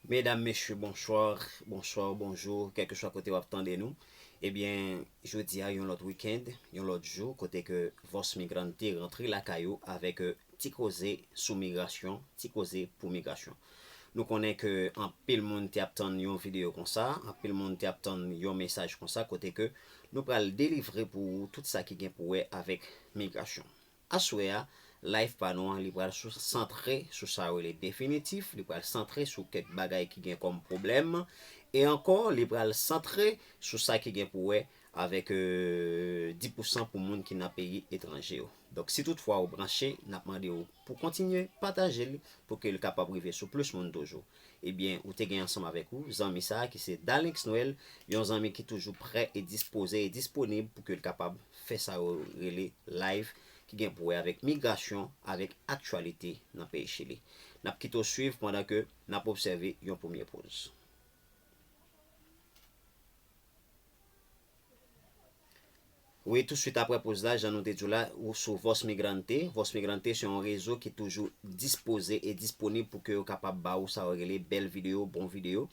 Medam mesye bonsoir, bonsoir, bonjour kelkeswa kote wap tande nou ebyen jodi a yon lòt weekend yon lòt jou kote ke Voz Migrante rantre lakay ou avèk ti koze sou migrasyon ti koze pou migrasyon nou konnen ke anpil moun te ap tann yon videyo konsa anpil moun te ap tann yon mesaj konsa kote ke nou pral delivre pou ou tout sa ki gen pou wè avèk migrasyon. Aswè a, live pa nou an li pral sou santre sou sa yo rele definitif, li pral santre sou kèk bagay ki gen kòm pwoblèm e ankò li pral santre sou sa ki gen pou wè avèk di pou san pou moun ki nan peyi etranje yo. Donk si tout fwa ou branche, n ap mande ou pou kontinye pataje l pou ke l kapab rive sou plis moun toujou. Ebyen ou te gen ansanm avèk ou zanmi sa ki se Dalinx Noel, yon zanmi ki toujou prè e dispoze e disponib pou ke l kapab fè sa yo rele live ki gen pou wè avèk migrasyon, avèk aktyalite nan peyi Chili. N ap kite w swiv pandan ke n ap obsève yon premye poz. Wi touswit aprè poz la jan nou te di w la sou Voz Migrante, Voz Migrante se yon rezo ki toujou dispoze e disponib pou ke yo kapab ba ou sa yo rele bèl videyo, bon videyo,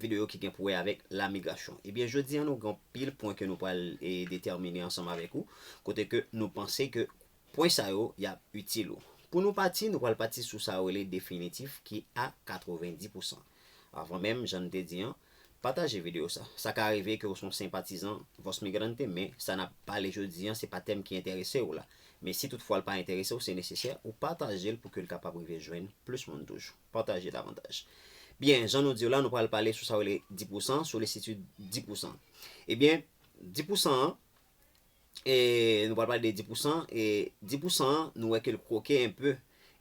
videyo ki gen pou wè avèk la migrasyon. Ebyen jodi an nou gen anpil pwen ke nou pral detèmine ansanm avèk ou kote ke nou panse ke Pwen sa yo y ap itil ou. Pou nou pati, nou pral pati sou sa yo rele definitif ki a 90 pou san. Avan menm, jan n te di an, pataje videyo sa. Sa ka rive ke w se yon senpatizan Voz Migrante men sa n ap pale jodi an se pa tèm ki enterese w la. Men si toutfwa l pa enterese w se nesesè ou pataje l pou ke l kapab rive jwenn plis moun toujou. Pataje davantaj. Byen, jan nou di w la nou pral pale sou sa yo rele di pou san, solisitid di pou san. Ebyen, di pou san an, E nou pral pale de di pousan, e di pousan an nou wè ke l kwoke enpe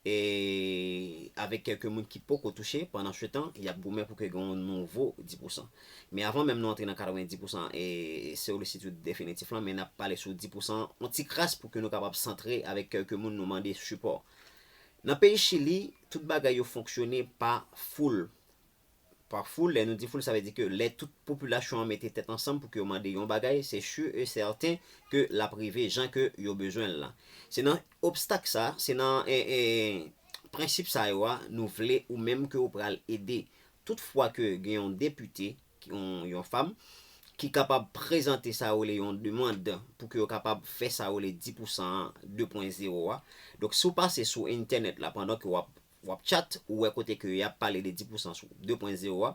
e avèk kèlke moun ki poko touche pandan se tan y ap goumen pou ke gen yon nouvo di pousan. Men avan menm nou antre nan 90 pousan e solisitid definitif lan men n ap pale sou di pousan an yon ti kras pou ke nou kapab santre avèk kèlke moun nou mande sipò. Nan peyi Chili, tout bagay yo fonksyone pa foul, Pa foul, lè nou di foul sa vle di ke lè tout popilasyon an mete tèt ansanm pou ke yo mande yon bagay, se sur et certain ke l ap rive jan ke yo bezwen l lan. Se nan obstak sa, se nan prensip sa yo a nou vle ou menm ke ou pral ede. Tout fwa ke gen yon depite, yon fam, ki kapab prezante sa yo rele yon demand pou ke yo kapab fè sa yo rele 10 pou san an 2 pwen zewo a, donk si w pase sou entènèt la pandan ke w ap Wap chat ou wè kote ke yap pale de 10 pousan sou 2 pwen zewo a.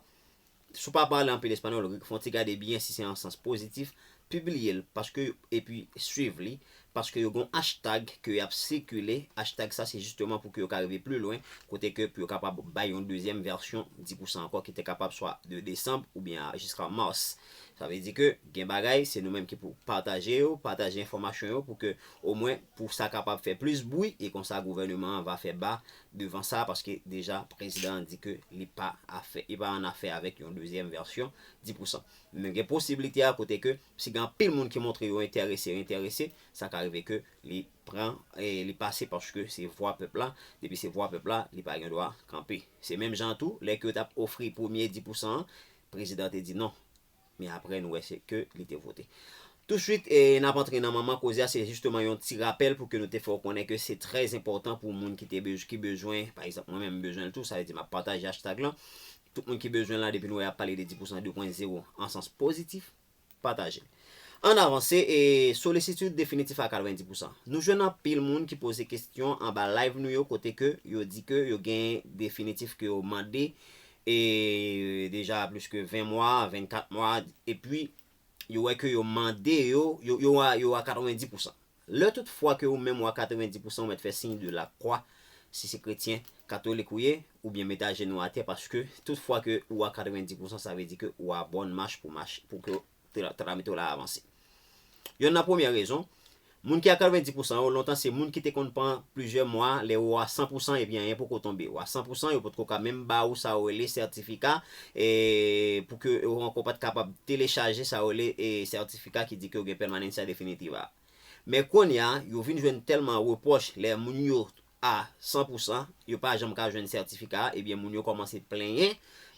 Si w pa pale anpil espanyòl, fon ti gade byen si se an sans pozitif, pibliye l paske epi swiv li paske yo gen yon achtag ke yap sikile, achtag sa se jisteman pou ke yo ka rive pli lwen kote ke pou yo kapab bay yon dezyèm vèsyon 10 pousan ankò ki te kapab swa de desanb oubyen a jiska mars. Sa vle di ke gen bagay se nou menm ki pou pataje yo, pataje enfòmasyon yo pou ke omwen pou sa kapab fè plis bwi e konsa gouvèneman an va fè ba devan sa paske deja prezidan an di ke li pa afè, li pa an afè avèk yon dezyèm vèsyon 10 pou san. Men gen posiblite a kote ke si gen anpil moun ki montre yo entèrese, yo entèrese, sa ka rive ke li pran, li pase paske se vwa pèp la, depi se vwa pèp la, li pa gen dwa kanpe. Se menm jan an tou, lè ke yo t ap ofri premye 10 pou san an, prezidan te di non, Men aprè nou wè se ke li te vote. Tou swit n ap antre nan manman koze a se jisteman yon ti rapèl pou ke nou te fè w konnen ke se trè enpòtan pou moun ki te bezw ki bezwen pa egzanp mwen menm m bezwen l tou sa vle di m ap pataje hashtag lan tout moun ki bezwen l la depi nou wè y ap pale de 10 pousan 2 pwen zewo an sans pozitif pataje l ann avanse e solisitid definitif a 90 pousan nou jwenn anpil moun ki poze kestyon anba live nou yo kote ke yo di ke yo gen definitif ke yo mande e deja plis ke 20 mwa, 24 mwa, epi yo wè ke yo mande yo, yo a 90 pousan. Lè tout fwa ke ou menm ou a 90 pousan ou mèt fè siy de la kwa, si se kretyen, katolik ou ye, ou byen mete ajenou atè paske tout fwa ke ou a 90 pousan sa vle di ke ou a bòn mach pou mach, pou ke Tramite w la avanse. Yonn nan premyè rezon, moun ki a 90 pousan yo lontan se moun ki te konn pran plizyè mwa lè ou a 100 pousan epi anyen poko tonbe. Ou a 100 pousan, yo potko ka menm ba ou sa ou rele sètifika pou ke ou ankò pat kapab telechaje sa ou rele sètifika ki di ke ou gen Permanencia Definitiva a. Men konnya, yo vin jwenn tèlman repwòch lè moun yo a san pou san, yo pa janm ka jwenn sètifika a, ebyen moun yo kòmanse plenyen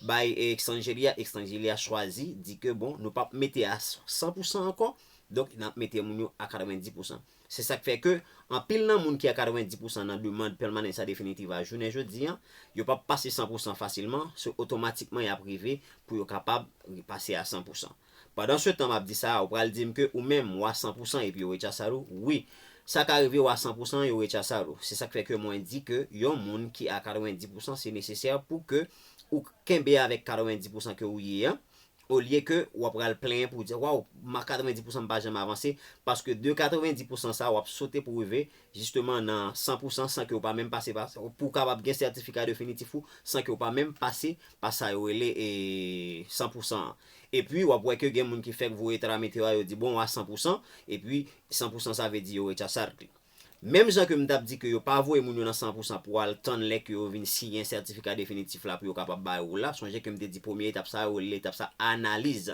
bay Extangeli a, Extangeli a chwazi di ke bon nou pap mete a san pou san ankò, donk nap mete moun yo a 90 pou san. Se sak fè ke anpil nan moun ki a 90 pou san nan demand Permanencia Definitiva jounen jodi an, yo pap pase san pou san fasilman, se otomatikman yap rive pou yo kapab pase a san pou san. Pandan se tan map di sa a ou pral dim ke ou menm wa san pou san epi yo rechasar ou wi sa ka rive wa san pou san yo rechasar ou se sak fè ke mwen di ke yon moun ki a 90 pou san se nesesè pou ke ou kenbe avèk 90 pou san ke ou ye an olye ke wa pral plenyen pou di waw ma 90 pou san pa janm avanse paske de 90 pou san sa wap sote pou rive jisteman nan san pou san san ke ou pa menm pase pa pou ou kapab gen sètifika definitif ou san ke ou pa menm pase pa sa yo rele san pou san an. Epi wap wè ke gen moun ki fèk voye tramite yo a yo di bon a 100 pousan, epi 100 pousan sa vle di yo rechasard li. Menm jan ke m tap di ke yo pa voye moun yo nan 100 pousan pou al tann lè ke yo vin siyen sètifika definitif la pou yo kapab bay ou la, sonje ke m te di premye etap sa yo rele etap sa analiz.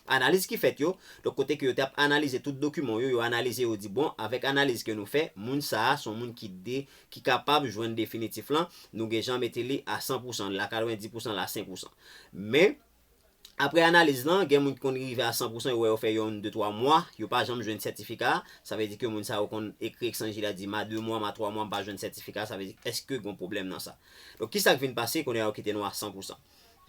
Analiz ki fèt yo, donk kote ke yo tap analize tout dokiman w yo, yo analize yo di bon avèk analiz ke nou fè, moun sa a son moun ki de, ki kapab jwenn definitif lan, nou gen jan mete li a 100 pousan, li la 90 pousan, li la 100 pousan. Men. Aprè analiz lan, gen moun ki konn rive a 100 pousan yo wè yo fè yonn de twa mwa, yo pa janm jwenn sètifika a, sa vle di ke moun sa yo konn ekri eksanji la di ma de mwa, ma twa mwa m pa jwenn sètifika a, sa vle di èske gon pwoblèm nan sa? Donk kisa k vin pase kounye a yo kite nou a 100 pousan?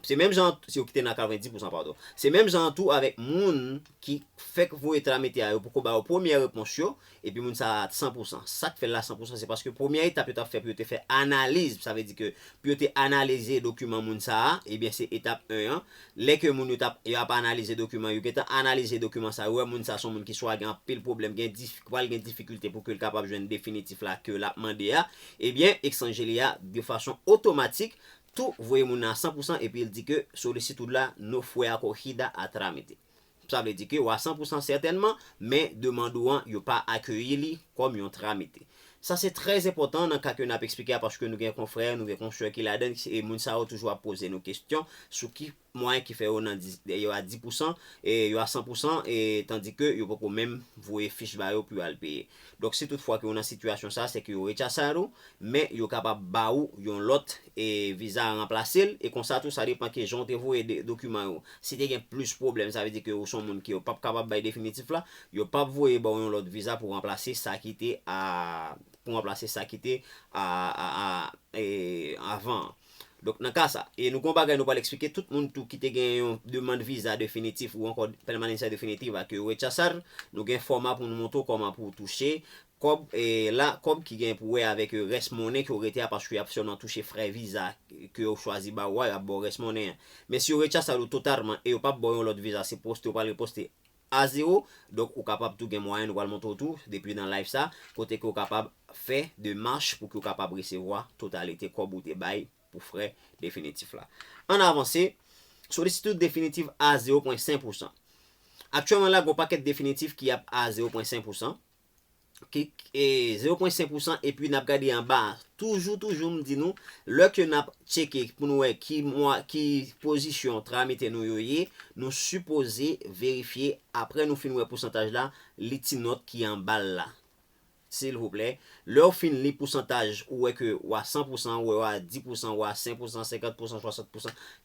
Se menm jan an, si yo kite nou a 90 pousan padon. Se menm jan an tou avèk moun ki fèk voye tramite a yo poko ba yo premyè repons yo, Epi moun sa a t san pou san. Sak fè l la san pou san se paske premyè etap yo t ap fè pou yo te fè analiz, sa vle di ke pou yo te analize dokiman moun sa a, ebyen se etap 1 an, lè ke moun yo t ap yo ap analize dokiman yo gentan analize dokiman sa yo wè moun sa son moun ki swa gen anpil pwoblèm gen dif ki pral gen difikilte pou ke l kapab jwenn definitif la ke l ap mande a, ebyen Exangeli a de fason otomatik tou voye moun nan a san pou san epi l di ke solicitude la no fue acorrigida a trámite. Sa vle di ke wa san pou san sètènman, men demand ou an yo pa akeyi li kòm yon tramite. Sa se trè enpòtan nan ka ke nap eksplike a paske nou gen konfrè, nou gen konsè ki ladan l, e moun sa yo toujou ap poze nou kestyon sou ki mwayen ki fè yo nan yo a di pou san, yo a san pou san, tandike yo poko menm voye fich ba yo pou yo al peye. Donk si tout fwa ke ou nan sitiyasyon sa a se ke yo rechasad ou, men yo kapab ba ou yon lòt e viza a ranplase l, e konsa tou sa depan ke jan ou te voye dokiman yo. Si te gen plis pwoblèm sa vle di ke ou son moun ke yo pap kapab bay definitif la, yo pap voye ba ou yon lòt viza pou ranplase sa ki te a pou ranplase sa ki te a a a e avan an. Donk nan ka sa, e nou gen yon bagay nou pral eksplike, tout moun tou ki te gen yon demand viza definitif ou ankò permanencia definitiva ke yo rechazar, nou gen fòma pou nou montre w kòman pou w touche kòb la, kòb ki gen pou wè avèk rès monnen ke w rete a paske y ap sèlman touche frè viza ke yo chwazi ba ou a, y ap ba w rès monnen an. Men si yo rechazar ou totalman e yo p ap ba w yon lòt viza se poste ou pral reposte. a zero donk ou kapab tou gen mwayen nou pral montre w tou depi nan live sa kote ke ou kapab fè demach pou ke ou kapab resevwa totalite kòb ou te bay pou frè definitif la ann avanse solisitid definitiv a zero pwen sen pousan aktyèlman la gen yon pakèt definitif ki ap a zero pwen sen pousan zero pwen senk pousan epi nap gade anba a toujou toujou m di nou lè ke nap tcheke pou nou wè ki mwa ki pozisyon tramite nou yo ye nou sipoze verifye apre nou fin wè pousantaj la li ti nòt ki anba l la silvouplè lè w fin li pousantaj ou wè ke w a san pousan ou wè w a di pousan ou a senk pousan senkant pousan swasant pousan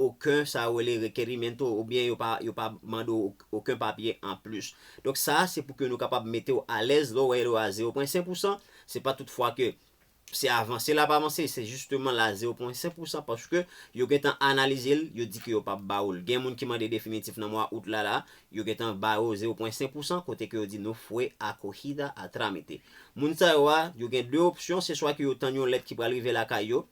oken sa yo rele requerimento oubyen yo pa yo pa mande w oken papye anplis. Donk sa se pou ke nou kapab mete w alèz lè w wè yo a zewo pwen sen pou san, se pa tout fwa ke se avanse l ap avanse, se jisteman l a zewo pwen sen pou san paske yo gentan analize l, yo di ke yo pap ba ou l. Gen moun ki mande definitif nan mwa out la la, yo gentan ba yo zewo pwen sen pou san kote ke yo di no fue acogida a trámite. Moun sa yo a, yo gen 2 opsyon, se swa ke yo tann yon lèt ki pral rive lakay yo,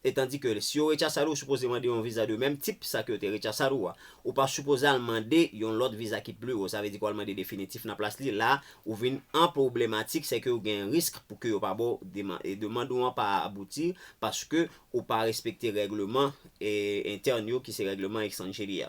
E tandi ke si yo rechasal ou sipoze mande yon viza de menm tip sa ke yo te rechasal ou a. Ou pa sipoze al mande yon lòt viza ki pli wo. Sa vle di ke w al mande definitif nan plas li. La, ou vin an pwoblematik, se ke ou gen risk pou ke yo pa ba w deman, e demand ou an pa abouti paske ou pa respekte règleman entèn yo ki se règleman Extranjeria.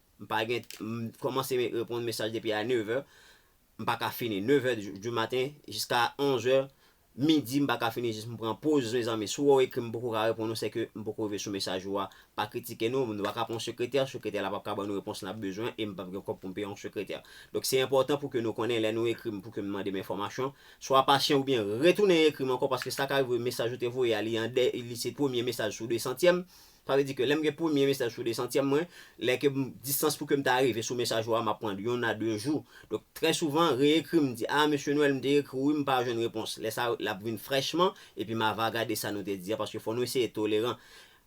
M pa gen m kòmanse reponn mesaj depi a 9 è m pa ka fini 9 è du maten jiska 11 è midi m pa ka fini jis m pran poz mezanmi si w wè w ekri m poko ka reponn ou se ke m poko rive sou mesaj ou a pa kritike nou nou pa ka pran yon sekretè sekretè la pap ka ban nou repons n ap bezwen e m pap gen kòb pou m peye yon sekretè donk se enpòtan pou ke nou konnen lè nou ekri m pou ke m mande m enfòmasyon swa pasyan oubyen retounen ekri m ankò paske sa ka rive mesaj ou te voye a li an dè li se premye mesaj sou desantyèm Sa vle di ke lèm gen premye mesaj sou 200 tièm mwen, lè ke distans pou kem ta rive sou mesaj ou a map pran yon a 2 jou. Donk trè souvan reekri m di ah Mesye Noel m te ekri w wi m pa jwenn repons. Lè sa lap vin frèchman epi ma va gade sa nou te di a paske fò nou eseye toleran.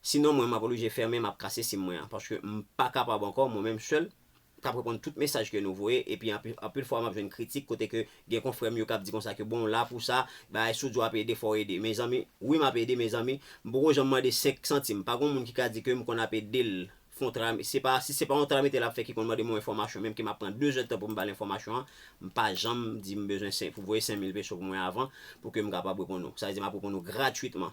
Sinon mwen map oblije fèmen map kase sim mwen an paske m pa kapab ankò mwen menm sèl k ap reponn tout mesaj ke nou voye epi anpil fwa m ap jwenn kritik kote ke gen konfrè m yo k ap di konsa ke bon w la pou sa, bagay si w di w ap ede fò w ede mezanmi, wi m ap ede mezanmi, m poko janm mande 5 santim, pa gon moun ki ka di ke m konn ap ede l fon travay, se pa, si se pa yon travay metye l ap fè ki konn mande m yon enfòmasyon menm ke m ap pran 2 zèdtan pou m ba l enfòmasyon an, m pa janm di m bezwen 5, pou voye 5000 peso pou mwen avan pou ke m kapab reponn ou, sa vle di m ap reponn ou gratwitman.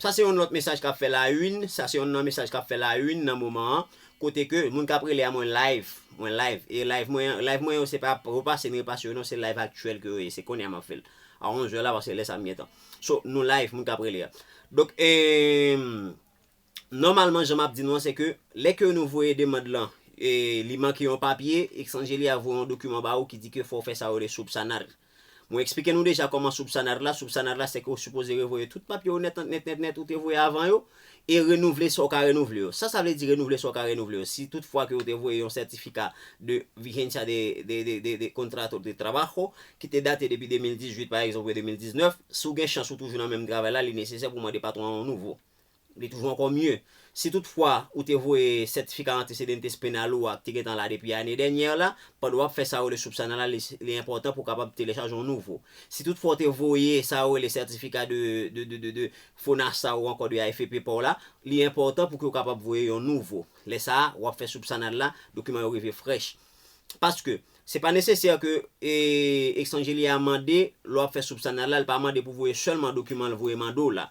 Sa se yon lòt mesaj kap fè la une, sa se yonn nan mesaj kap fè la une nan moman an, kote ke moun kap rele a mwen live, mwen live, e live mwen an, live mwen yo se pa repase m repase yo non se live aktyèl ke yo ye, se konnya map fèl a 11 è la paske lè sa m gentan. So nou live moun kap rele a. Donk eeemm. Nòmalman jan map di nou an se ke lè ke nou voye demand lan e li manke yon papye, Exangelia ap voye yon dokiman ba ou ki di ke fò ou fè sa yo rele subsanar. Mwen eksplike nou deja kòman subsanar la, subsanar la se ke ou sipoze revoye tout papye ou nèt nèt nèt nèt ou te voye avan yo e renouvle sa ou ka renouvle yo. Sa sa vle di renouvle sa ou ka renouvle yo? Si tout fwa ke ou te voye yon sètifika de vigencia de de de de contrato de trabajo ki te date depi 2018 pa egzanp oubyen 2019, si ou gen chans ou toujou nan menm travay la li nesesè pou mande patwon an yon nouvo. Li toujou ankò mye. Si tout fwa ou te voye sètifika antecedentes penal ou a ki te gentan la depi ane dènyè la, pandan wap fè sa yo rele soupsanalalis, li enpòtan pou kapab telechaje yon nouvo. Si tout fwa ou te voye sa yo rele sètifika de de FONASA ou ankò de AFP pa w la, li enpòtan pou ke ou kapab voye yon nouvo. Lè sa a, wap fè soupsanal la, dokiman yo rive frèch. Paske, se pa nesesè ke Extranjelia mande lè wap fè soupsanal la, li pa mande pou voye sèlman dokiman li voye mande w la.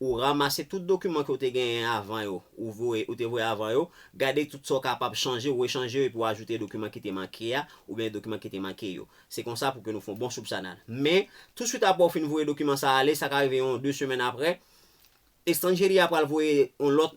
Ou ramase tout dokiman ke ou te genyen avan yo, ou voye, ou te voye avan yo, gade tout sa ou kapab chanje, ou rechanje yo epi ou ajoute dokiman ki te manke a, oubyen dokiman ki te manke yo. Se konsa pou ke nou fè yon bon soupsanal. Men, touswit apre ou fin voye dokiman sa a ale, sa ka rive yon 2 semèn apre, Estranjeri a pral voye yon lòt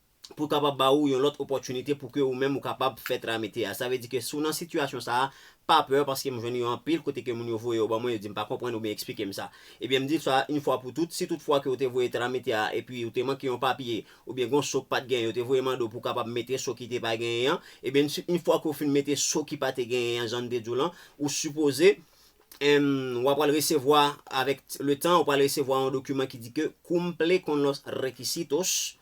pou l kapab ba ou yon lòt opòtinite pou ke ou menm ou kapab fè tramite a. Sa vle di ke si w nan sitiyasyon sa a, pa pè paske m jwenn yo anpil kote ke moun yo voye yo ban mwen, yo di m pa konprann oubyen eksplike m sa. Ebyen m di w sa a, infwa pou tout, si tout fwa ke ou te voye tramite a epi ou te manke yon papye oubyen gen yon so k pa t genyen, yo te voye mande w pou w kapab mete so ki te pa genyen an, ebyen si infwa ke ou fin mete so ki pa te genyen an jan n te di w lan, ou sipoze w apral resevwa avèk le tan, ou pral resevwa yon dokiman ki di ke cumple con los requisitos,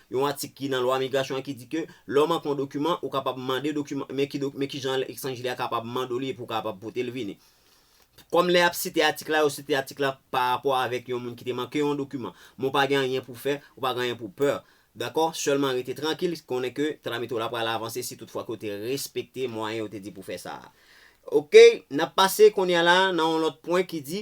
Yon atik ki nan lwa migrasyon an ki di ke lè ou manke yon dokiman, ou kapab mande dokiman, men ki men ki jan ekstranjile a kapab mande w li epi ou kapab pote l vini. Kòm lè y ap site atik la, yo site atik la pa rapò avèk yon moun ki te manke yon dokiman. Men ou pa gen anyen pou fè, ou pa gen anyen pou peur. Dakò? Sèlman rete trankil, konnen ke tramite w la pral avanse si tout fwa ke w te respekte mwayen yo te di pou fè sa a. Ok, n ap pase kounye a la nan yon lòt pwen ki di,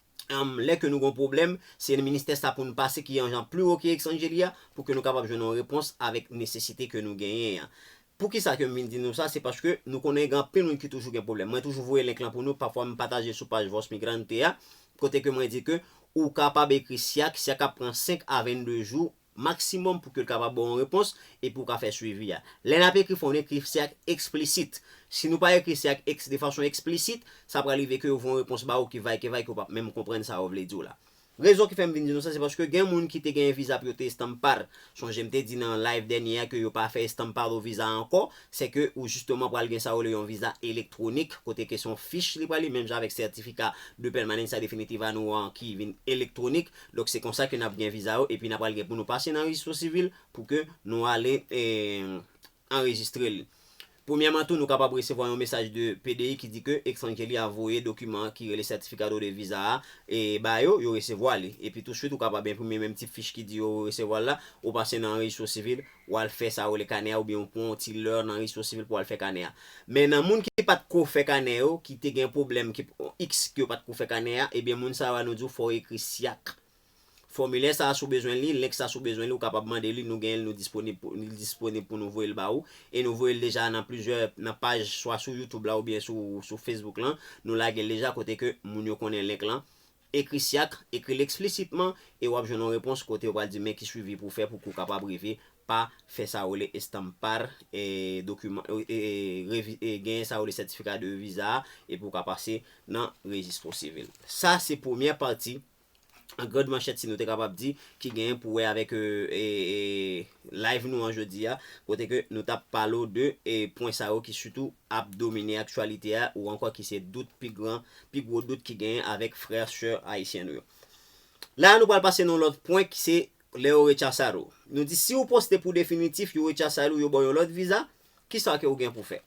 lè ke nou gen yon pwoblèm, se nan ministè sa pou nou pase ki yon jan pli wo ke Exangeli a, pou ke nou kapab jwenn yon repons avèk nesesite ke nou genyen an. Poukisa ke m vin di nou sa, se paske nou konnen gen anpil moun ki toujou gen pwoblèm. Mwen toujou voye link lan pou nou, pafwa m pataje l sou paj Voz Migrante a, kote ke mwen di ke ou kapab ekri SYAC, SYAC ap pran 5 a 22 jou maksimòm pou ke l kapab ba w yon repons epi ou ka fè swivi a. Lè n ap ekri fò n ekri se ak eksplisit. Si nou pa ekri se ak de fason eksplisit, sa pral rive ke yo voye yon repons ba ou ki vay ke vay ke ou pa p menm konprann sa yo vle di w la. Rezon ki fè m vin di nou sa se paske gen moun ki te genyen viza pou yo te estampar. Sonje m te di nan live dènye a ke yo pa fè estampado viza ankò, se ke ou jisteman pral gen sa yo rele yon viza elektwonik kote ke se yon fich li pral li menm jan avèk sètifika de pèmanensa definitiva nou an ki vin elektwonik. Donk se konsa ke nap gen viza yo epi na pral gen pou nou pase nan rejistro sivil pou ke nou ale anrejistre li. Premyèman tou nou kapab resevwa yon mesaj de PDI ki di ke etranje li a voye dokiman ki rele certificado de visa a ba yo, yo resevwa li. Epi touswit ou kapab enprime menm ti fich ki di yo resevwa l la, ou pase nan rejistro sivil ou al fè sa yo rele kanè a oubyen ou pran yon ti lè nan reyisyon sivil pou al fè kanè a. Men nan moun ki pat ko fè kanè yo, ki te gen pwoblèm ki x ke yo pat ko fè kanè a, ebyen moun sa yo a nou di w fò ou ekri SYAC. Fòmilè sa a si w bezwen li, link sa si w bezwen li ou kapab mande li, nou genyen l nou disponib pou li disponib pou nou voye l ba ou e nou voye l deja nan plizyè nan paj swa sou youtube la oubyen sou sou facebook lan nou lage l deja kote ke moun yo konnen link lan Ekri syak, ekri l eksplisitman e w ap jwenn yon repons kote yo pral di men ki swivi pou w fè pou kou w kapab rive pa fè sa yo rele estampar e dokiman e genyen sa yo rele sètifika de viza a e pou w ka pase nan rejistro sivil. Sa se premyè pati an grand manchèt si nou te kapab di ki genyen pou wè avèk live nou an jodi a kote ke nou t ap pale w de pwen sa yo ki sitou ap domine aktyalite a ou ankò ki se dout pi gran, pi gwo dout ki genyen avèk frè, sè ayisyen nou yo. La a nou pral pase nan yon lòt pwen ki se lè yo rechasad ou. Nou di si ou poste pou definitif yo rechasad ou yo baw yon lòt viza, kisa ke ou gen pou fè?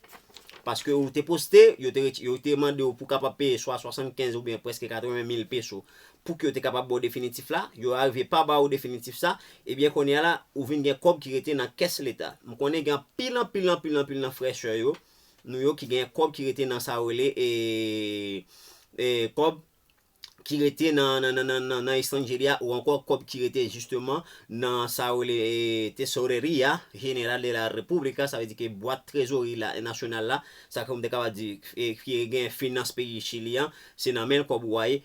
Paske ou te poste, yo te yo te mande ou pou kapab peye swa 75 oubyen preske 80 mil peso pouki yo te kapab ba w definitif la, yo arive pa ba ou definitif sa, ebyen kounye a la ou vin gen kòb ki rete nan kès leta. M konnen gen anpil anpil anpil anpil nan frè sè yo nou yo ki gen kòb ki rete nan sa yo rele kòb ki rete nan estranjeria ou ankò kòb ki rete jisteman nan sa yo rele Tesoreria General de la República sa vle di ke bwat trezori nasyonal la sa ke m te kapab di ki gen finans peyi Chili an se nan men l kòb ou a ye.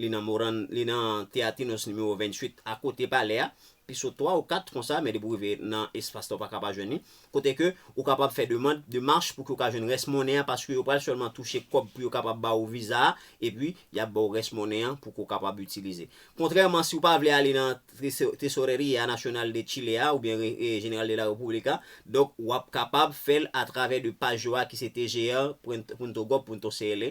Li nan Moran, li nan Teatinos nimewo 28 akote palè a, pi sou 3 ou 4 konsa, men depi ou rive nan espas la ou pa ka pa jwenn li, kote ke ou kapab fè demand, demach pou ke ou ka jwenn rès monnen an paske yo pral sèlman touche kòb pou yo kapab ba ou viza a, epi y ap ba ou rès monnen an pou ke ou kapab itilize. Kontrèman si ou pa vle ale nan Tesoreria Nacional de Chile a oubyen General de la República, donk w ap kapab fè l atravè de paj yo a ki se tgr. Punto Gov. Punto CL.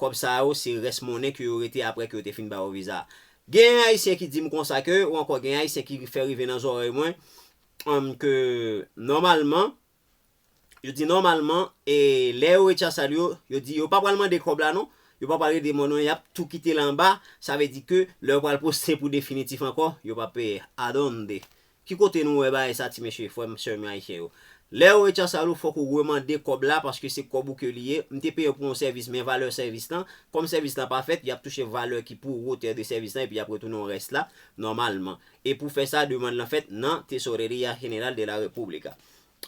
Kòb sa yo se rès monnen ke yo rete aprè ke yo te fin ba yo viza. Genyen Ayisyen ki di m konsa ke, ou ankò genyen Ayisyen ki fè rive nan zòrèy mwen, ke nòmalman, yo di nòmalman, e lè yo rechasal yo, yo di yo pa pral mande kòb la non, yo pa pral rete monnen, y ap tou kite l anba, sa vle di ke lè yo pral poste pou definitif ankò, yo p ap peye. Adonde! Ki kote nou wè bagay sa ti mesye frè m sè m yo ayisyen yo lè yo recharsal ou fòk ou remande kòb la paske se kòb ou ke li ye m te peye w pou yon sèvis men valè sèvis lan kòm sèvis lan pa fèt yap touche valè ki pou wotè de sèvis lan epi yap retounen w rès la nòmalman e pou fè sa demand lan fèt nan Tesoreria General de la República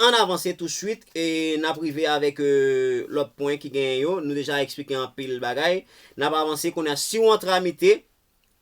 an avanse tou swit e nap rive avèk lòt pwen ki genyen yo nou deja eksplike anpil bagay nap avanse kounye a si w an tramite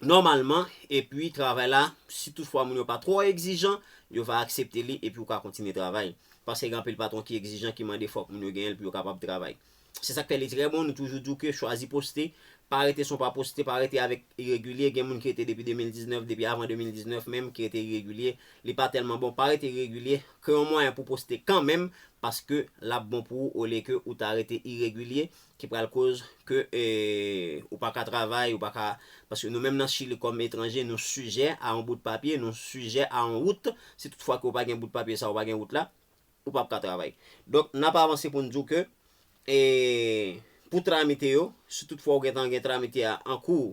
nòmalman epi travay la si tout fwa moun yo pa twò egzijan yo va aksepte li epi ou ka kontinye travay paske gen anpil patwon ki egzijan ki mande fòk moun yo genyen l pou yo kapab travay se sak fè li trè bon nou toujou di w ke chwazi poste pa rete son pa poste pa rete avèk iregilye gen moun ki rete depi 2019 depi avan 2019 menm ki rete iregilye li pa tèlman bon pa rete iregilye kreye yon mwayen pou poste kanmenm paske lap bon pou ou olye ke ou ta rete iregilye ki pral koz ke ou paka travay ou paka paske nou menm nan chili kòm etranje nou sijè a yon bout papye nou sijè a yon wout si tout fwa ke ou pa gen bout papye sa ou pa gen wout la ou pap ka travay donk nap avanse poun diw ke pou tramite yo si tout fwa ou gentan gen tramite a an kouw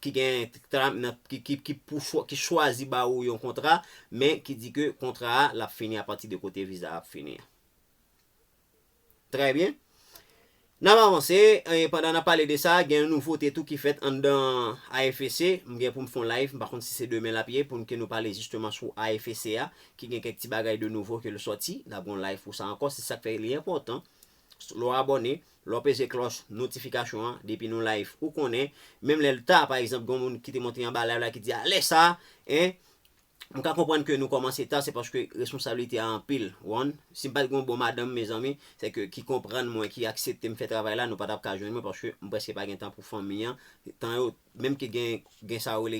ki gen kta nan ki chwazi ba ou yon kontra men ki di ke kontra a lap fini apati de kote viza a ap fini an. Trè byen. Nap avanse, e pandan nap pale de sa, gen yon nouvote tou ki fèt anndan AFEC, m gen pou m fè yon live, m pa konn si se demen lap ye, pou n ke nou pale jisteman sou AFEC a, ki gen kèk ti bagay de nouvo ke l sòti, nap gen yon live pou sa ankò, se sak fè li enpòtan. lè w abòne, lè w peze klòch notifikasyon an depi nou live ou konnen, menm lè l ta pa egzanp gen yon moun ki te monte anba live la ki di a lè sa e m ka konprann ke nou kòmanse ta se paske responsablite a anpil w an, si m pa t gen yon bon madanm mezanmi se ke ki konprann mwen ki aksepte m fè travay la nou pa t ap ka jwenn mwen paske m prèske pa gen tan pou fanmi an tan yo Menm ke gen gen sa yo rele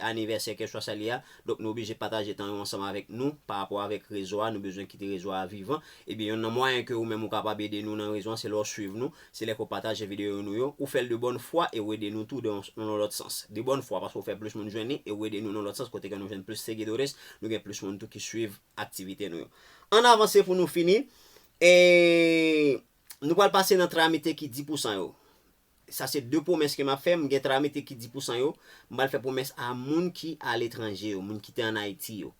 anivèsè kèlkeswa sa li ye a, donk nou oblije pataje tan yo ansanm avèk nou pa rapò avèk rezo a, nou bezwen kite rezo a vivan. Ebyen yonn nan mwayen ke ou menm ou kapab ede nou nan rezo an se lè w swiv nou, se lè ke w pataje videyo nou yo, ou fè l de bòn fwa e ou ede nou tou de yon lòt sans. De bòn fwa paske ou fè plis moun jwenn li e ou ede nou nan lòt sans kote ke nou jwenn plis seguidores, nou gen plis moun tou ki swiv aktivite nou yo. Ann avanse pou nou fini, e nou pral pase nan tramite ki di pousan yo. Sa se 2 pwomès ke map fè, m gen tra mete ki 10 pousan yo, m pral fè pwomès a moun ki aletranje yo, moun ki te an Ayiti yo.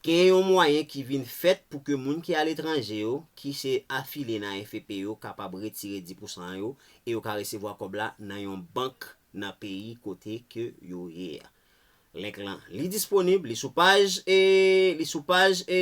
Gen yon mwayen ki vin fèt pou ke moun ki aletranje yo, ki se afilye nan AFP yo kapab retire 10 pousan an yo, e yo ka resevwa kòb la nan yon bank nan peyi kote ke yo ye a. Link lan li disponib, li sou paj e, li sou paj e.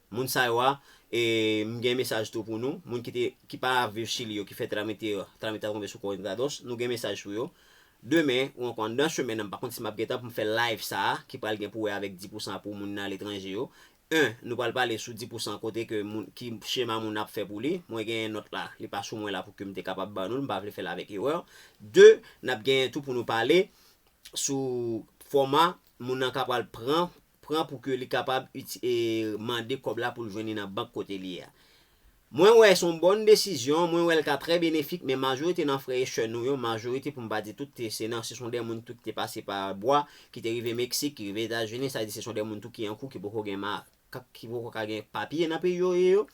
Moun sa yo a e m gen mesaj tou pou nou moun ki te ki pa viv chili yo ki fè trame te trame ta tonbe sou kò entrados nou gen mesaj pou yo demen ou ankò anndan semèn nan m pa konn si map gentan pou m fè live sa a ki pral gen pou wè avèk 10 pousan pou moun aletranje yo 1 nou pral pale sou 10 pousan kote ke moun ki chema moun ap fè pou li mwen genyen nòt la li pa sou mwen la pou ke m te kapab ban nou l m pa vle fè l avèk erè 2 nap genyen tou pou nou pale sou fòma moun nan ka pral pran pran pou ke li kapab mande kòb la pou l jwenn li nan bank kote li ye a. Mwen wè se yon bòn desizyon, mwen wè l ka trè benefik men majorite nan frè e sè nou yo, majorite pou m pa di tout, se nan se son dè moun tou ki te pase pa bwa, ki te rive Meksik, ki rive Etazini, sa vle di se son dè moun tou ki an kou, ki poko gen ma, ki poko ka gen papye nan peyi yo ye yo.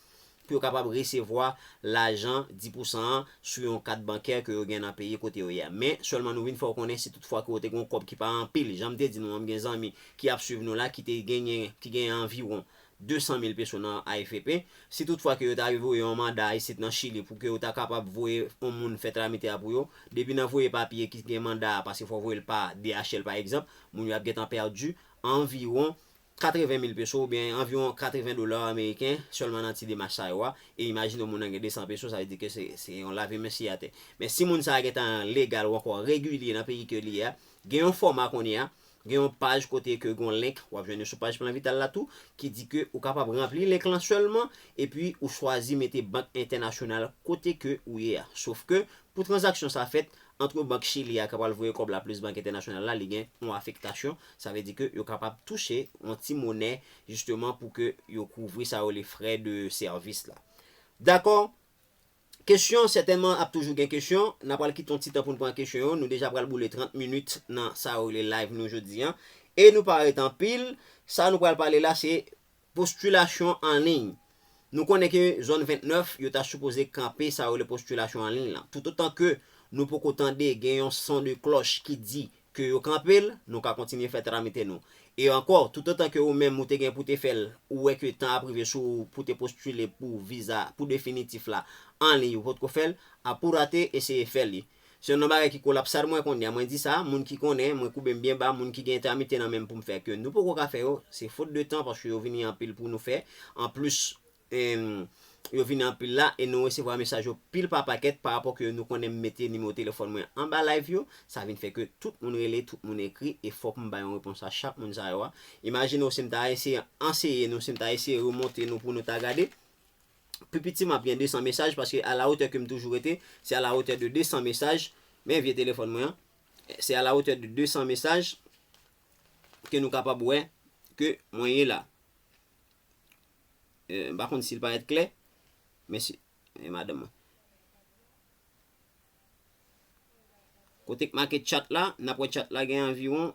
pou yo kapab resevwa lajan 10 pousan an sou yon kat bankè ke yo gen nan peyi kote yo ye a. Men, sèlman nou vin fè ou konnen si tout fwa ke ou te gen yon kòb ki pa anpil, jan m te di nou an, m gen zanmi ki ap swiv nou la ki te genyen, ki genyen anviwon 200 mil peso nan AFP, si tout fwa ke yo ta rive voye yon manda isit nan Chili pou ke yo ta kapab voye yon moun fè tramite a pou yo, depi nan voye papye ki gen manda a, paske fò voye l pa DHL pa egzanp, moun yo ap gentan pèdi anviwon 80 mil peso oubyen anviwon 80 dola ameriken sèlman nan ti demach sa yo a, e imajine w moun nan gen 200 peso sa vle di ke se yon lave men siye atè. Men si moun sa a gentan legal ou ankò regilye nan peyi ke li ye a, gen yon fòma kounye a, gen yon paj kote ke gen yon link, w ap jwenn li sou paj Plan Vital la tou, ki di ke ou kapab ranpli link lan sèlman epi ou chwazi mete bank entènasyonal kote ke ou ye a. Sof ke pou tranzaksyon sa fèt antre bank Chili a ki pral voye kòb la plis bank entènasyonal la li gen yon afektasyon Sa vle di ke yo kapab touche yon ti monè jisteman pou ke yo kouvri sa yo rele frè de sèvis la. Dakò? Kesyon, sètènman ap toujou gen kesyon. N a pral kite yon ti tan pou n pran kesyon yo. Nou deja pral boule 30 minit nan sa yo rele live nou jodi an. E nou pa ret anpil. Sa nou pral pale la se Postilasyon an liy Nou konnen ke zòn 29 yo ta sipoze kanpe sa yo rele postilasyon an liy lan. Toutotan ke nou poko tande gen yon son de klòch ki di ke yo kanpe l, nou ka kontinye fè tramite nou. E ankò, toutotan ke ou menm ou te gen pou te fè l, ou wè ke tan ap rive sou ou pou te postile pou viza, pou definitif la, an liy ou potko fè l, a pou rate, eseye fè li. Se yon nan bagay ki kolapsad mwen konnya, mwen di sa, moun ki konnen, mwen koube m byen ba, moun ki gen entèmite nan men m pou m fè ke nou poko ka fè yo, se fot de tan paske yo vini anpil pou nou fè, an plis yo vini anpil la e nou resevwa mesaj yo pil pa pakèt pa rapò ke nou konnen m mete nimewo telefòn mwen anba live yo, sa vin fè ke tout moun rele, tout moun ekri e fòk m bay yon repons a chak moun sa yo a. Imajine w si m ta eseye anseye nou, si m ta eseye remonte nou pou nou ta gade. Pi piti m ap gen 200 mesaj paske a la otè ke m toujou rete, se a la otè de 200 mesaj, men vye telefòn mwen an, se a la otè de 200 mesaj ke nou kapab wè ke mwen ye la. M pa konn si l parèt klè, men si, e madanm mwen. Kote k make chat la, n ap wè chat la gen anviwon,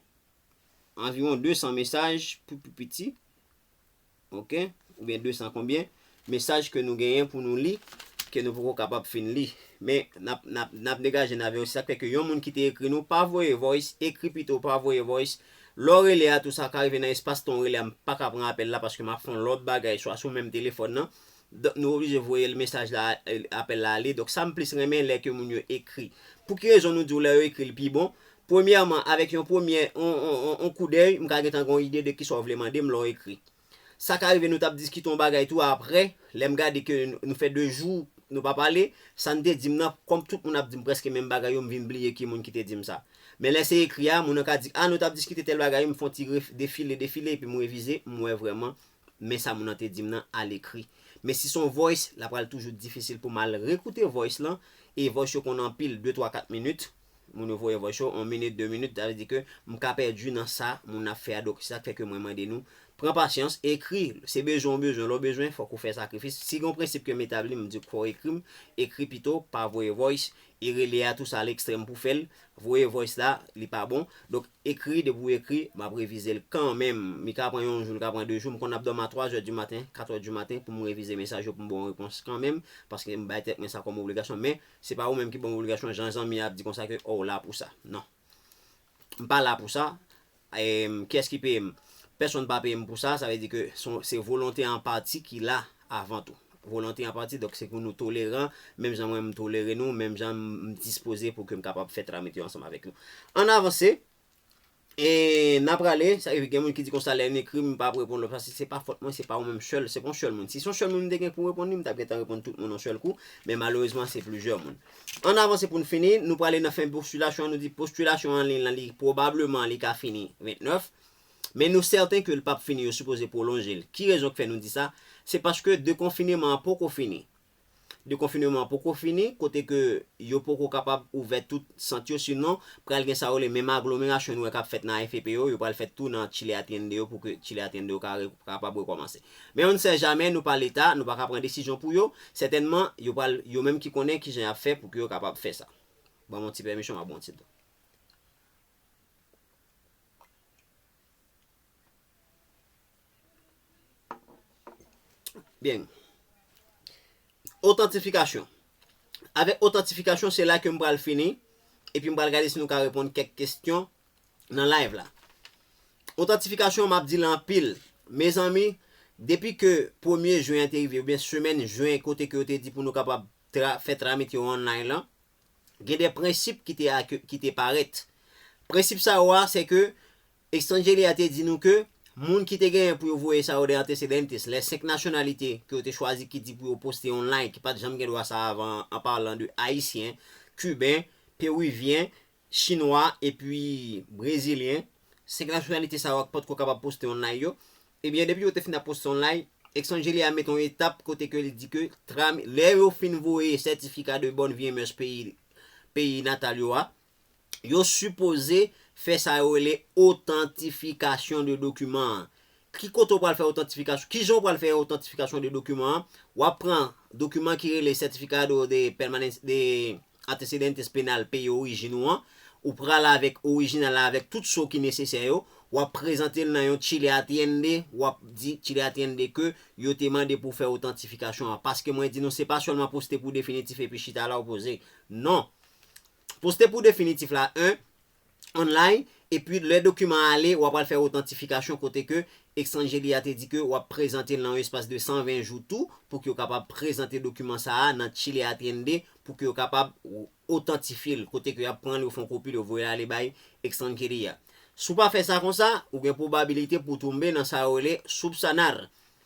anviwon 200 mesaj pou pi piti. Ok ou gen 200 konbyen mesaj ke nou genyen pou nou li ke nou poko kapab fin li men nap nap nap degaje n avèw se sak fè ke yon moun ki te ekri nou pa voye voice ekri pito pa voye voice lè w rele a tou sa ka rive nan espas tan w rele a m paka pran apèl la paske map fè yon lòt bagay swa sou menm telefòn nan donk nou oblije voye l mesaj la apèl la ale donk sa m plis renmen lè ke moun yo ekri pouki rezon nou diw lè yo ekri l pi bon Premyèman, avèk yon premyè yon koudèy, m ka gentan gen yon ide de kisa w vle mande m lè w ekri. Sa ka rive nou t ap diskite yon bagay tou apre, lè m gade ke nou fè de jou nou pa pale, sa n te di m nan, kòm tout moun ap di m prèske menm bagay yo, m vin bliye ki moun ki te di m sa. Men lè se ekri a, moun nan ka di, a nou t ap diskite tèl bagay wi, m fè yon ti defile, defile, epi m revize, m wè vrèman men sa moun nan te di m nan alekri. Men si se yon voice, l ap pral toujou difisil pou m al rekoute voice lan, e voice yo konn anpil, de twa kat minit, Moun yo voye voice yo 1 minit 2 minit sa vle di ke m ka pèdi nan sa moun nan ap fè a donk se sak fè ke mwen mande nou pran pasyans ekri se bezwen ou bezwen lè w bezwen fòk ou fè sakrifis si gen yon prensip ke m etabli m di w fò w ekri m ekri pito pa voye voice e rele a tou sa a lekstrèm pou fè l voye voice la li pa bon donk ekri depi w ekri m ap revize l kanmenm li ka pran yon jou li ka pran 2 jou m konn ap dòmi a 3 zè di maten 4 zè di maten pou m revize mesaj yo pou m ba w repons kanmenm paske m bay tèt mwen sa kòm obligasyon men. Se pa ou menm ki banm obligasyon jan zanmi an ap di konsa ke oh ou la pou sa. Non. M pa la pou sa. Em kiyès ki peyem? Pèsonn pa peyem pou sa, sa vle di ke son se volonte an pati ki la avan tou. Volonte an pati donk se pou nou toleran menm jan mwen m tolere nou, menm jan m dispoze pou ke m kapab fè tramit yo ansanm avèk nou. Ann avanse. E na prale, sa ki gen moun ki di konsa lè yon ekri m pa reponn lòt pase se pa fòt mwen, se pa ou menm sèl, se pa yon sèl moun. Si se yon sèl moun m te gen pou reponn li, m t ap gentan reponn tout moun yon sèl kou, men malerezman se plizyè moun. Ann avanse pou n fini, nou prale nan fen postilasyon an, nou di postilasyon an liy lan li pwobableman li ka fini 29, men nou sèten ke l p ap fini yo sipoze pwolonje l. Ki rezon k fè nou di sa? Se paske dekonfineman an poko fini. Dekonfineman an poko fini, kote ke yo poko kapab ouvè tout sant yo, sinon pral gen sa yo rele menm aglomerasyon nou wè kap fèt nan AFP yo, yo pral fèt tou nan Chile Atiende yo pou ke Chile Atiende yo ka kapab rekòmanse. Men on ne sait jamais, nou pa leta, nou pa ka pran desizyon pou yo, sètènman yo pral, yo menm ki konnen kijan yap fè pou ke yo kapab fè sa. Banm on ti pèmisyon map bon ti dlo. Byen. Otantifikasyon. Avèk otantifikasyon, se la ke m pral fini, epi m pral gade si nou ka reponn kèk kestyon nan live la. Otantifikasyon m ap di l anpil. Mezanmi, depi ke premye jen an te rive, oubyen semèn jen kote ke yo te di pou nou kapab fè tramit yo online lan, gen de prensip ki te parèt. Prensip sa yo a, se ke, Extranjeli a te di nou ke moun ki te genyen pou yo voye sa yo de antecedentes, les 5 nationalités ke yo te chwazi ki di pou yo poste yon line ki pat janm gen dwa sa avan an en parlant de Ayisyen, Kiben, Peruvyen, Chinwa epi Brezilyen, 5 nationalités sa yo ak potko kapab poste yon line yo, ebyen depi yo te fin ap poste yon line, Extranjeli a mete yon etap kote ke li di ke tram lè yo fin voye certificat de bonne vie et mœurs peyi peyi natal yo a, yo sipoze fè sa yo rele otantifikasyon de dokiman an. Ki kote ou pral fè otantifikasyon, ki jan ou pral fè otantifikasyon de dokiman an, w ap pran dokiman ki rele Certificado de Permanencia de Antecedentes Penal peyi orijin ou an, ou pral avèk orijinal la avèk tout so ki nesesè yo, w ap prezante l nan yon Chile Atiende, w ap di Chile Atiende ke yo te mande pou w fè otantifikasyon an. Paske mwen di nou se pa sèlman poste pou definitif epi chita la ou poze. Non! Poste pou definitif la 1 online epi lè dokiman an ale wa pral fè otantifikasyon kote ke Exangeli a te di ke wap prezante l nan yon espas de 120 jou tou pou ke yo kapab prezante dokiman sa a nan Chile Atiende pou ke yo kapab otantifye l kote ke yap pran l yo fè yon kopi l yo voye l ale bay Exangeli a. Si w pa fè sa konsa, ou gen pwobabilite pou w tonbe nan sa yo rele subsanar.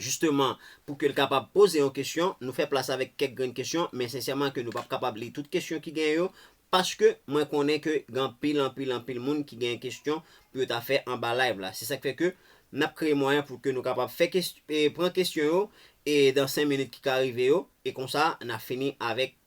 Jisteman, pou ke l kapab poze yon kesyon, nou fè plas avèk kèk grenn kesyon, men sensèman ke nou pap kapab li tout kesyon ki genyen yo, paske mwen konnen ke gen anpil, anpil, anpil moun ki genyen kesyon pou yo ta fè anba live la. Se sa k fè ke n ap kreye mwayen pou ke nou kapab fè kes, pran kesyon yo e dan 5 minit ki ka rive yo, e konsa na fini avèk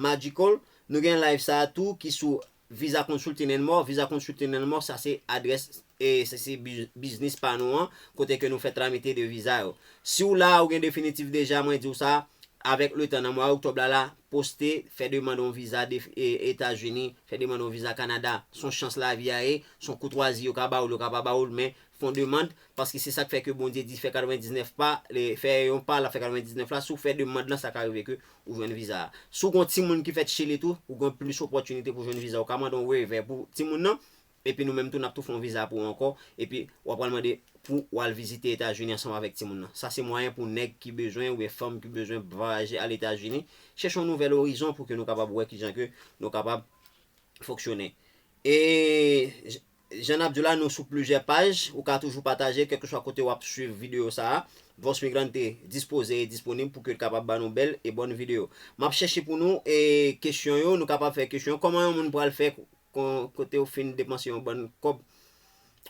Magical, nou gen live sa a tou ki sou Visa Consulting and More, Visa Consulting and More sa se adrès e se se biznis pa nou an kote ke nou fè tramite de viza yo. Si w la a ou gen definitif deja mwen di w sa, avèk le tan nan mwa oktòb la la, poste, fè demand on viza Etazini, fè demand on viza Kanada, son chans lavi a ye, son koutwazi yo ka ba ou l yo ka pa ba ou l men fon demand paske se sa k fè ke Bondye di fè 99 pa, fè yon pa l ap fè 99 la, si w fè demand lan sa ka rive ke Ou jwenn viza a. Si w gen yon timoun ki fèt Chili tou, ou gen plis opòtinite pou w jwenn viza. Ou ka mande yon waiver pou timoun nan, epi nou menm tou n ap tou fè yon viza pou ou ankò, epi w ap pral mande pou w al vizite Etazini ansanm avèk timoun nan. Sa se mwayen pou nèg ki bezwen oubyen fanm ki bezwen bvayaje al Etazini, chèche yon nouvèl orizon pou ke nou kapab wè kijan ke nou kapab fonksyone. E. Jan n ap di w la, nou sou plizyè paj. Ou ka toujou pataje, kèlkeswa kote w ap swiv videyo sa a. Voz Migrante dispoze e disponib pou ke l kapab ba nou bèl e bòn videyo. M ap chèche pou nou e kesyon yo. Nou kapab fè kesyon yo. Kòman yon moun pral fè kon kote ou fin depanse yon bann kòb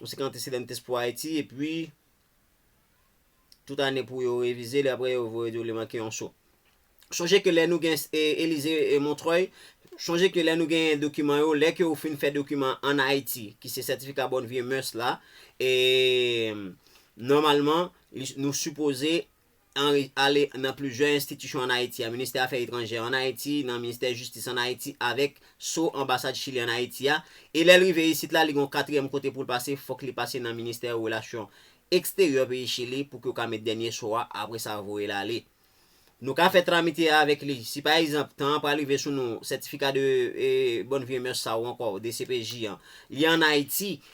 ou se kantisidentes pou Ayiti epi Tout ane pou yo revize li apre yo voye di yo li manke yon so. Sonje ke lè nou gen Elize Montreuil, sonje ke lè nou gen dokiman yo, lè ke ou fin fè dokiman an Ayiti, ki se sètifika bòn vye mœurs la, e nòmalman nou sipoze Henry ale nan plizyè enstitisyon an Ayiti a, Ministè Afè Etranjè an Ayiti, nan Ministè Jistis an Ayiti avèk so Anbasad Chili an Ayiti a, e lè l rive isit la, li gon katriyèm kote pou l pase, fòk li pase nan Ministè Relasyon Eksteryè peyi Chili pou ke yo ka met dènye so a, apre sa voye l ale. Nou ka fè tramite a avèk li. Si pa egzanp, tan an pral rive sou nou, sètifika de bonnes vieux mœurs sa ou ankò, DCPJ an, li an Ayiti,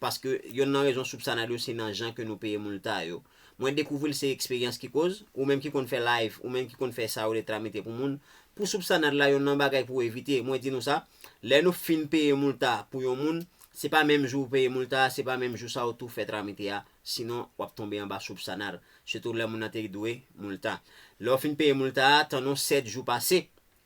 paske yonn nan rezon soup sa nado se nan jan ke nou peye moun lta yo mwen dekouvril se eksperyans ki koz ou menm ki konn fè live ou menm ki konn fè sa yo ltra mete pou moun pou soup sa nad la yonn nan bagay pou evite mwen di nou sa lè nou fin peye moun lta pou yon moun se pa menm jou ou peye moun lta se pa menm jou sa ou tou fè tra mete a sinon wap tonbe anba soup sa nad sitou lè moun nan te dwe moun lta lè ou fin peye moun lta tann ou 7 jou pase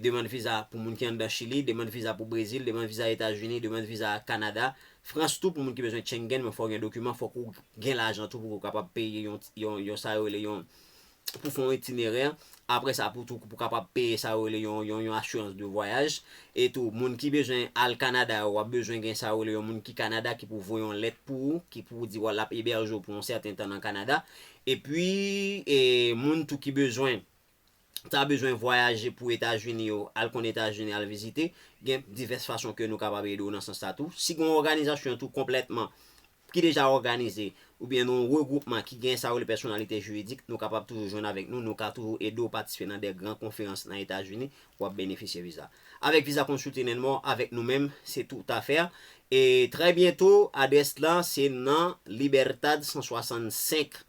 demann viza pou moun ki anndan Chili, demann viza pou Brezil, demann viza Etazini, demann viza Kanada, Frans tou pou moun ki bezwen Chengen men fò w gen dokiman, fòk ou gen lajan tou pou ou kapab peye yon yon sa yo rele yon pou fè yon itinerè, aprè sa pou tou pou kapab peye sa yo rele yon yon asirans de vwayaj, e tou moun ki bezwen al Kanada yo w ap bezwen gen sa yo rele yon moun ki Kanada ki pou voye yon lèt pou ou ki pou di w l ap ebèje w pou yon sèten tan nan Kanada, epi e moun tou ki bezwen. ta bezwen vwayaje pou Etazini yo, al konn Etazini al vizite, gen divès fason ke nou kapab ede w nan sans sa tou. Si gen yon òganizasyon tou konplètman ki deja òganize oubyen yon regwoupman ki gen sa yo rele pèsonalite jiridik, nou kapab toujou jwenn avèk nou, nou ka toujou ede w patisipe nan de gran konferans nan Etazini pou w ap benefisye viza. Avèk viza Consulting and More avèk nou menm se tout a fè e trè byento adrès lan se nan Libertad 165.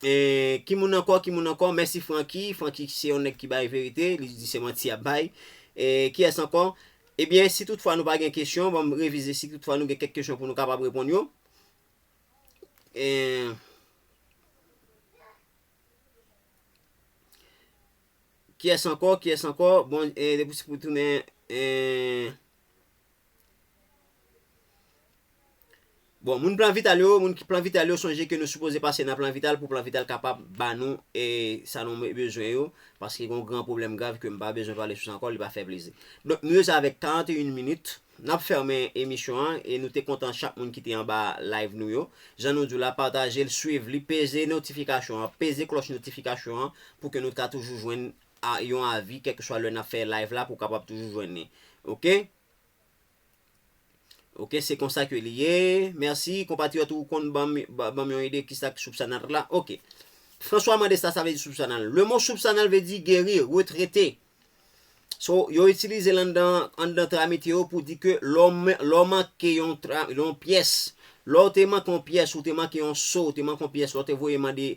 Ki moun ankò, ki moun ankò, mèsi Francky, Francky se yon nèg ki bay verite, li di se manti yap bay. Kiyès ankò? Ebyen si tout fwa nou pa gen kesyon, banm revize si tout fwa nou gen kèk kesyon pou nou kapab reponn yo. Kiyès ankò, kiyès ankò, bon depi se pou tounen. Bon, moun plan vital yo, moun ki plan vital yo sonje ke nou sipoze pase nan plan vital pou plan vital kapab ba nou e sa nou bezwen yo, paske gon gran problem grav ke m pa bezwen pale sou sa ankò, li pa fè plezi. Donk, nou rete avèk 41 minit, n ap fèmen emisyon an e nou te kontan chak moun ki te anba live nou yo. Jan nou di w la, pataje l, swiv li, peze notifikasyon an, peze klòch notifikasyon an pou ke nou ka toujou jwenn a yon avi kèlkeswa lè nap fè live la pou kapab toujou jwenn li ok ok se konsa ke li ye merci konpatriyòt ou konn banm banm yon ide kisa ki soupsanal la ok François mande sa sa vle di soupsanal le mo soupsanal vle di geri retrete so yo itilize l anndan anndan tramite yo pou di ke lè w lè w manke yon yon pyès lè w te manke yon pyès ou te manke yon so ou te manke yon pyès lè w te voye mande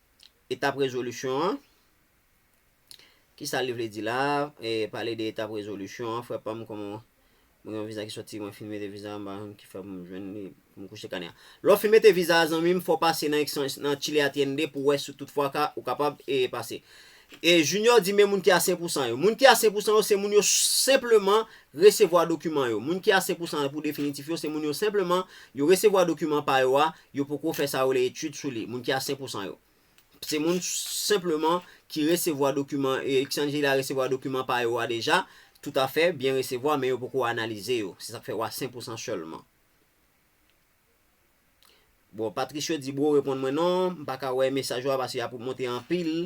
Etap rezolisyon an, ki sa li vle di la, e pale de etap rezolisyon an, frè pam kòman mwen gen yon viza ki sòti mwen fin mete viza mpa konn kifè poum jwenn li poum kouche kanè a lè w fin mete viza a zanmim fò w pase nan extension nan chile atiende pou wè si tout fwa ka ou kapab e pase e junior di men moun ki a 100 pousan yo moun ki a 100 pousan yo se moun yo senpleman resevwa dokiman yo moun ki a 100 pousan pou definitif yo se moun yo senpleman yo resevwa dokiman pa yo a Yo poko fè sa yo rele etid sou li, moun ki a 5 pou san yo. Se moun senpleman ki resevwa dokiman, Xanthi la resevwa dokiman pa yo a deja, toutafè, byen resevwa, men yo poko analize yo. Se sa k fè ou a 5 pou san sèlman. Bon, Patricio di bro reponn mwen non, m pa ka wè mesaj ou a paske y ap monte anpil.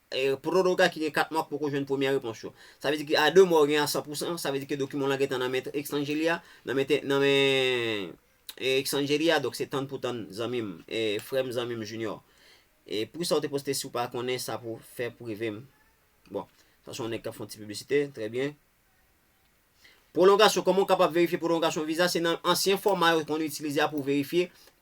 Pou tout ka ki gen 4 mwa k poko jwenn premyè repons yo. Sa vle di ke a 2 mwa ou gen a 100 pou 100, sa vle di ke dokiman w lan gentan nan men Xangeli a, nan men te, nan men Xangeli a, donk se tann pou tann zanmi m, frè m, zanmi m Junior. E pou kisa ou te poste si w pa konnen sa pou fè pou rive m? Bon, sa se yon nèg k ap fè yon ti piblisite, trè byen. Pwolongasyon, kòman ou kapab verifye pwolongasyon viza, se nan ansyen fòma yo konn itilize a pou w verifye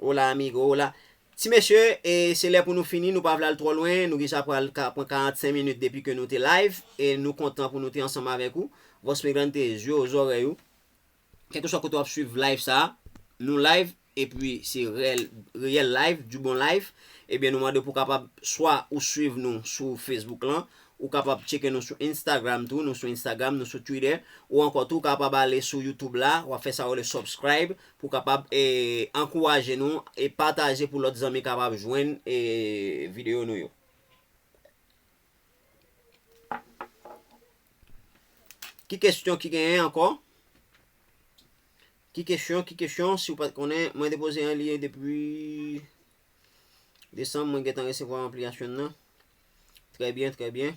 Hola amigo hola Ti mesye e se lè pou nou fini nou pa vle al twò lwen nou deja pral ka pran 45 minit depi ke nou te live e nou kontan pou nou te ansanm avèk ou Vos Megante zye ou zòrèy ou kèlkeswa kote wap swiv live sa nou live epi se rèl reyèl live du bon live ebyen nou mande pou kapab swa ou swiv nou sou Facebook lan ou kapab tcheke nou sou Instagram tou nou sou Instagram nou sou Twitter ou ankò tou kapab ale sou YouTube la wap fè sa yo rele subscribe Pou kapab ankouraje nou e pataje pou lòt zanmi kapab jwenn videyo nou yo. Ki kesyon ki genyen ankò? Ki kesyon, ki kesyon, si ou pat konnen, mwen depoze an liye depi desanm mwen gentan resevwa anpliyasyon nan. Trè byen, trè byen.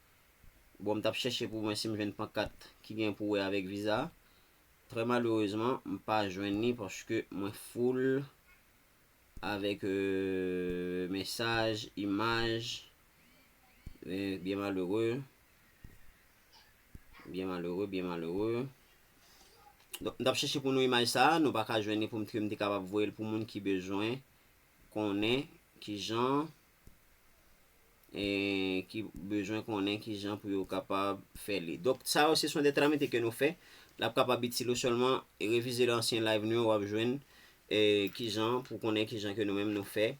Bon m tap chèche pou mwen si m jwenn pankat ki gen pou wè avèk viza. Trè malerezman m pa jwenn li paske mwen foul avèk mesaj, imaj. Byen malere, byen malere, byen malere. Donk m tap chèche pou nou imaj sa nou pa ka jwenn li pou m te kapab voye l pou moun ki bezwen konnen kijan. ki bezwen konnen ki jan pou yo kapab fè li. Donk, sa yo se son de tramite ke nou fè. L ap kapab itil ou sèlman revize lè ansyen live nou yo wap jwenn ki jan pou konnen ki jan ke nou menm nou fè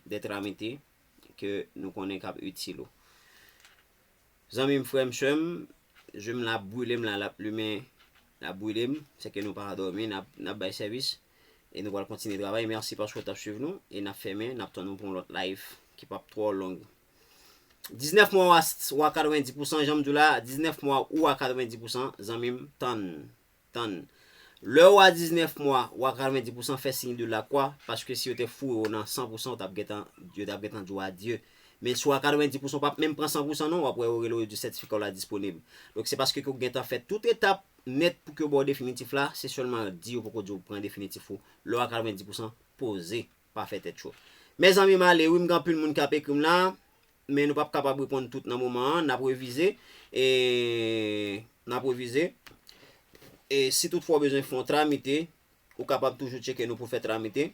de tramite ke nou konnen kap itil ou. Zanmim frèm sèm Jwem la ap brilem la lap limen lap brilem sèke nou pa dòmi nap bay sèvis e nou pral kontinye travay merci paske ou tap swiv nou e nap fèmen nap tann ou pou yon lòt live ki pap twò long 19 mwa wa 90 pousan janm diw la 19 mwa ou a 90 pousan zanmim tann Tann. Lè ou a 19 mwa, ou a 90 pousan fè siy de lakwa, paske si yo te foure ou nan 100 pousan ou t ap gentan, yo t ap gentan di ou adye. Men si ou a 90 pousan ou p ap menm pran 100 pousan non, w ap wè yo rele ou yo di w sètifika w la disponib. Donk se paske ke ou gentan fè tout etap nèt pou ke yo ba w definitif la, se sèlman di yo poko di ou pran definitif ou lè ou a 90 pousan poze. pa fè tèt cho. Mezanmi m ale wi m gen anpil moun kap ekrim la men nou pap kapab reponn tout nan moman an nap revize e nap revize e si tout fwa w bezwen fon tramite ou kapab toujou tcheke nou pou fè tramite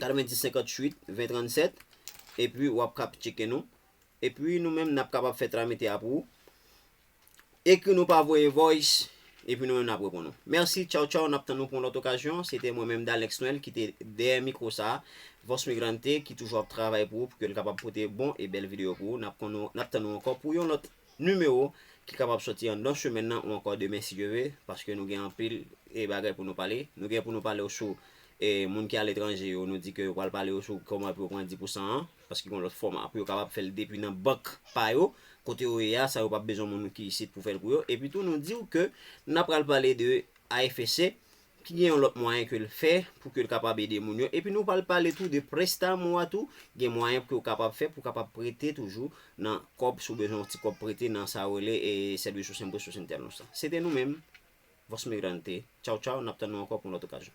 90 58 20 37 epi wap kap tcheke nou epi nou menm nap kapab fè tramite a pou ou. Ekri nou pa voye voice epi nou menm nap reponn ou. Merci tchaw tchaw nap tann ou pou yon lòt okazyon se te mwen menm Dalex Noel ki te dèyè mikro sa Voz Migrante ki toujou ap travay pou ou pou ke l kapab pote bon e bèl videyo pou ou nap konn ou nap tann ou ankò pou yon lòt nimewo ki kapab sòti anndan semèn nan ou ankò demen si Dye ve paske nou gen anpil e bagay pou nou pale nou gen pou nou pale ou sou e moun ki aletranje yo nou di ke yo pral pale ou sou kòman pou yo pran di pou san an. Paske gen lòt fòma pou yo kapab fè l depi nan bank pa yo, kote yo ye a, sa yo p ap bezwen moun ki isit pou fè l pou yo. Epi tou nou di w ke n ap pral pale de AFC ki gen yon lòt mwayen ke l fè pou ke l kapab ede moun yo. Epi nou pral pale tou de Prestamo a tou, gen mwayen ke w kapab fè pou w kapab prete toujou nan kòb si w bezwen yon ti kòb prete nan sa yo rele Servicio Sus Impuestos Internos la. Se te nou menm, Voz Migrante. Tchaw tchaw, n ap tann nou ankò pou yon lòt okazyon.